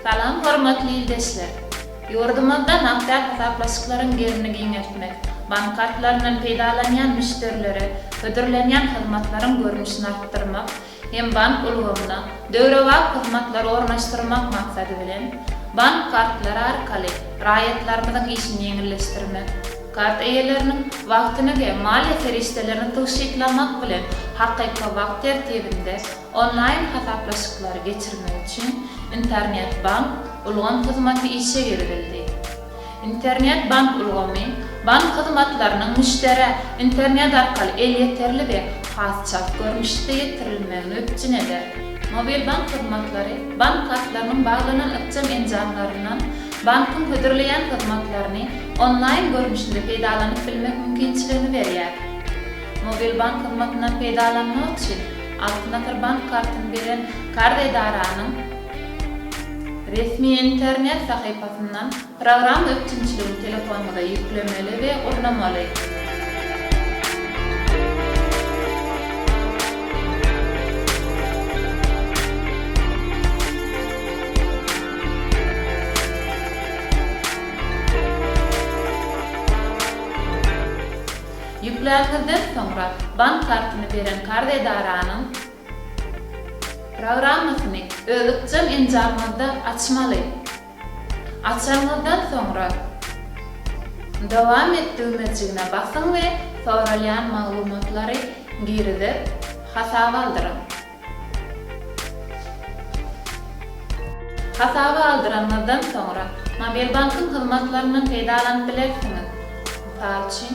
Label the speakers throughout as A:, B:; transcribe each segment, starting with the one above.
A: Salam hormatly ildeşler! Ýurdumyzda nagtda hasaplaşyklaryň gerimini giňeltmek, bank kartlaryndan peýdalanýan müşderilere hödürlenýän hyzmatlaryň görnüşini artdyrmak, hem bank ulgamyna döwrebap hyzmatlary ornaşdyrmak maksady bilen, bank kartlary arkaly raýatlarymyzyň işini ýeňilleşdirmek, kart eýeleriniň wagtyny we maliýe serişdelerini tygşytlamak bilen hakyky wagt tertibinde onlaýn hasaplaşyklary geçirmek üçin Internet-bank ulgam hyzmaty işe girizildi. Internet bank ulgamy, bank hyzmatlarynyň müşderä internet arkaly elýeterli we has çalt görnüşde ýetirilmegini üpjün eder. Mobil bank hyzmatlary bank kartlarynyň baglanan ykjam enjamlaryndan bankyň hödürleýän hyzmatlaryny onlaýn görnüşinde peýdalanyp bilmek mümkinçiligini berýär. Mobil bank hyzmatyndan peýdalanmak üçin Altyn asyr bank kartyny beren karz edaranyň, Resmi internet sahypasyndan programma üpjünçiligini telefonyňyza ýüklemeli we gurnamaly. Ýükläniňizden soňra bank kartyny beren karz edaranyň, Programmasyny öz ykjam enjamyňyzda açmaly. Açanyňyzdan soňra, Dowam et düwmejigine basyň we soralýan maglumatlary girizip, hasaby aldyryň. Hasaby aldyranyňyzdan soňra, Mobilbankyň hyzmatlaryndan peýdalanyp bilersiňiz, mysal üçin,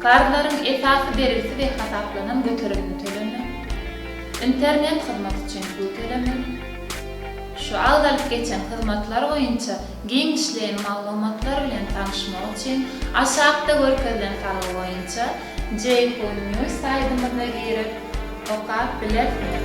A: Karzlaryň esasy bergisi we hasaplanan göterimini tölemek, internet hyzmaty üçin pul tölemek, şu agzalyp geçen hyzmatlar boýunça giňişleýin maglumatlar bilen tanyşmak üçin aşakda görkezilen salgy boýunça Jeyhun News saýdymyza girip okap bilersiňiz.